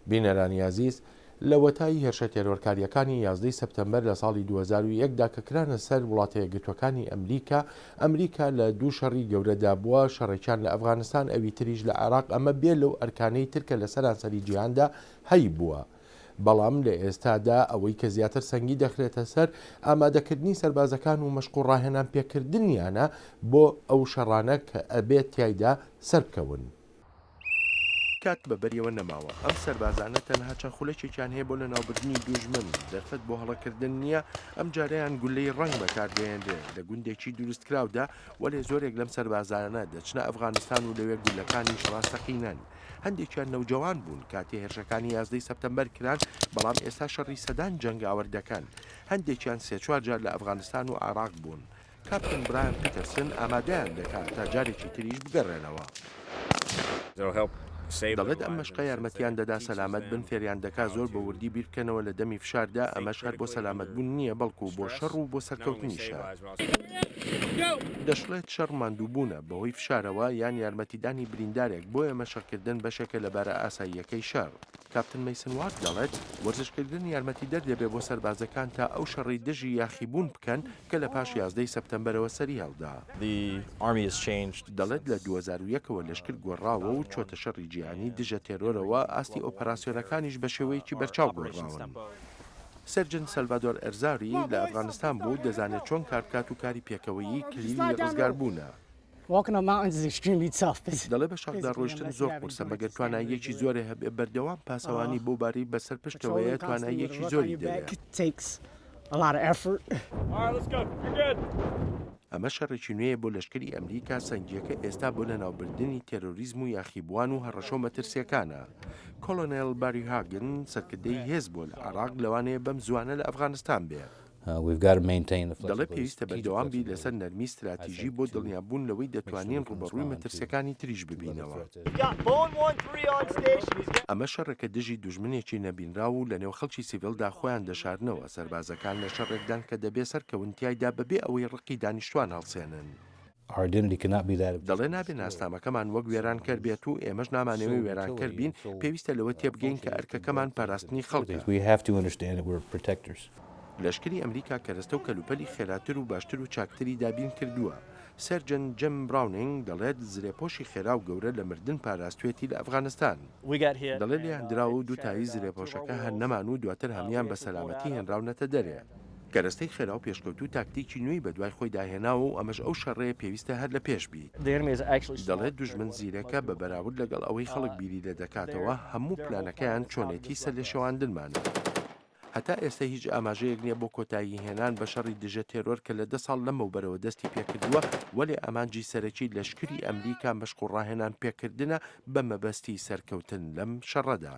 بینەرانی ئازیز، لەوەتای هێرشە تێرۆرکارییەکانی یازدەی سەپتەمبەر لە ساڵی دوو هەزار و یەک دا کە کرانە سەر وڵاتە یەکگرتووەکانی ئەمریکا، ئەمریکا لە دوو شەڕی گەورەدا بووە، شەڕێکیان لە ئەفغانستان ئەوی تریش لە عێراق ئەمە بێ لەو ئەرکانەی تر کە لە سەرانسەری جیهاندا هەیبووە. بەڵام لە ئێستادا ئەوەی کە زیاتر سەنگی دەخرێتە سەر ئامادەکردنی سەربازەکان و مەشق و ڕاهێنانپێکردنیانە بۆ ئەو شەڕانە کە ئەبێت تیایدا سەربکەون. کات بە بەریەوە نەماوە، ئەم سەربازانە تەنها چەند خولەکێکیان هەیە بۆ لەناوبردنی دووژمن، دەرفەت بۆ هەڵەکردن نییە، ئەمجارەیان گوللەی ڕەنگ بەکاردەهێنرێ، لە گوندێکی دروستکراودا، وەلێ زۆرێک لەم سەربازانە دەچنە ئەفغانستان و لەوێ گوللەکانیش ڕاستەقینەن، هەندێکیان نەوجەوان بوون کاتێ هێرشەکانی یازدەی سەپتەمبەر کران، بەڵام ئێستا شەڕی سەدان جەنگاوەر دەکەن، هەندێکیان سێ چوار جار لە ئەفغانستان و عێراق بوون. کاپتن برایان پیتەرسن ئامادەیان دەکات تا جارێکی تریش بگەڕێنەوە. دەڵێت ئەم مەشقە یارمەتیان دەدا سەلامەت بن، فێریان دەکات زۆر بە وردی بیر بکەنەوە لە دەمی فشاردا، ئەمەش هەر بۆ سەلامەت بوون نییە، بەڵکو بۆ شەڕ و بۆ سەرکەوتنیشە. دەشڵێت شەڕ ماندووبوونە بەهۆی فشارەوە یان یارمەتیدانی بریندارێک، بۆیە مەشقکردن بەشێکە لە بارە ئاساییەکەی شەڕ. کاپتن مەیسن وارد دەڵێت وەرزشکردن یارمەتیدەر دەبێت بۆ سەربازەکان تا ئەو شەڕەی دژی یاخیبوون بکەن، کە لە پاش یازدەی سەپتەمبەرەوە سەریهەڵدا. دەڵێت، لە دوو هەزار و یەک ەوە لەشکر گۆڕاوە و چۆتە شەڕی جیهانی دژە تێرۆرەوە، ئاستی ئۆپەراسیۆنەکانیش بە شێوەیەکی بەرچاو گۆڕاون. سێرجنت سەلڤادۆر ئەرزاری لە ئەفغانستان بوو، دەزانێت چۆن کاربکات و کاری پێکەوەیی کلیلی ڕزگاربوونە. دەڵێ بە شەڕدا ڕۆیشتن زۆر قورسە مەگەر تواناییەکی زۆرێ هەبێ، بەردەوام پاسەوانی بەو بارەی بەسەر پشتەوەیە تواناییەکی زۆری دەوێ. ئەمە شەڕێکی نوێیە بۆ لەشکری ئەمریکا، سەنگییەکە ئێستا بۆ لەناوبردنی تێرۆریزم و یاخیبووان و هەڕەشە و مەترسییەکانە. کۆڵۆنێڵ باری هاگن، سەرکردەی هێز بووە لە عێڕاق، لەوانەیە بەم زووانە لە ئەفغانستان بێ. دەڵێت پێویستە بەردەوام بیت لەسەر نەرمی ستراتیژی بۆ دڵنیابوون لەوەی دەتوانین ڕووبەڕووی مەترسیەکانی تریش ببینەوە. ئەمە شەڕێکە دژی دوژمنێکی نەبینراو و لەنێو خەڵکی سیڤیلدا خۆیان دەشارنەوە، سەربازەکان لە شەڕێکدان کە دەبێت سەرکەون تیایدا بەبێ ئەوەی ڕقی دانیشتوان هەڵسێنن. دەڵێ نابێ ناسنامەکەمان وەک وێرانکەر بێت و ئێمەش نامانەوێ وێرانکەر بین، پێویستە لەوە تێبگەین کە ئەرکەکەمان پاراستنی خەڵکە. لەشکری ئەمریکا کەرەستە و کەلوپەلی خێراتر و باشتر و چاکتری دابین کردووە. سەرجەن جم براونینگ دەڵێت زرێپۆشی خێرا و گەورە لە مردن پاراستوێتی لە ئەفغانستان. دەڵێ لێیان دراوە و دوو تایی زرێپۆشەکە هەر نەمان و دواتر هەموویان بە سەلامەتی هێنراونەتە دەرێ. کەرەستەی خێرا و پێشکەوتوو تاکتیکی نوێی بەدوای خۆیدا هێناوە و ئەمەش ئەو شەڕەیە پێویستە هەر لە پێش بیت. دەڵێت دوژمن زیرەکە بە بەراورد لەگەڵ ئەوەی خەڵک بیری لێ دەکاتەوە، هەموو پلانەکەیان چۆنێتی سەرلێشێواندنمانە. هەتا ئێستە هیچ ئاماژەیەک نییە بۆ کۆتایی هێنان بە شەڕی دژە تێرۆر کە لە دە ساڵ لەمەوبەرەوە دەستی پێ کردووە، وەلێ ئامانجی سەرەکی لەشکری ئەمریکا مەشق و ڕاهێنان پێکردنە بە مەبەستی سەرکەوتن لەم شەڕەدا.